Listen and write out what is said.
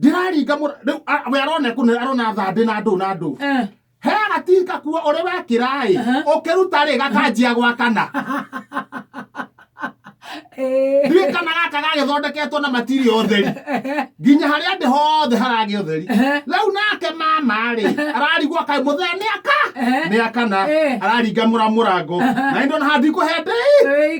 ndĩraringa mũra- rĩu a- we arona kũne arona thambĩ na ndũ na ndũ Eh. he agatinga kuo ũrĩ wekĩra ĩ Aha. ũkĩruta rĩ gakanjia gwakana Eh. ndiũĩ kana gaka gagĩthondeketwo na matiri ũtheri nginya harĩa ndĩ hothe haragĩ ũtheri Ehe. rĩu nake mama rĩ ararigwo kaĩ mũthee nĩ aka Ehe. nĩ akana Eh. araringa mũra mũrango Aha. na indo na handikũhende Ei.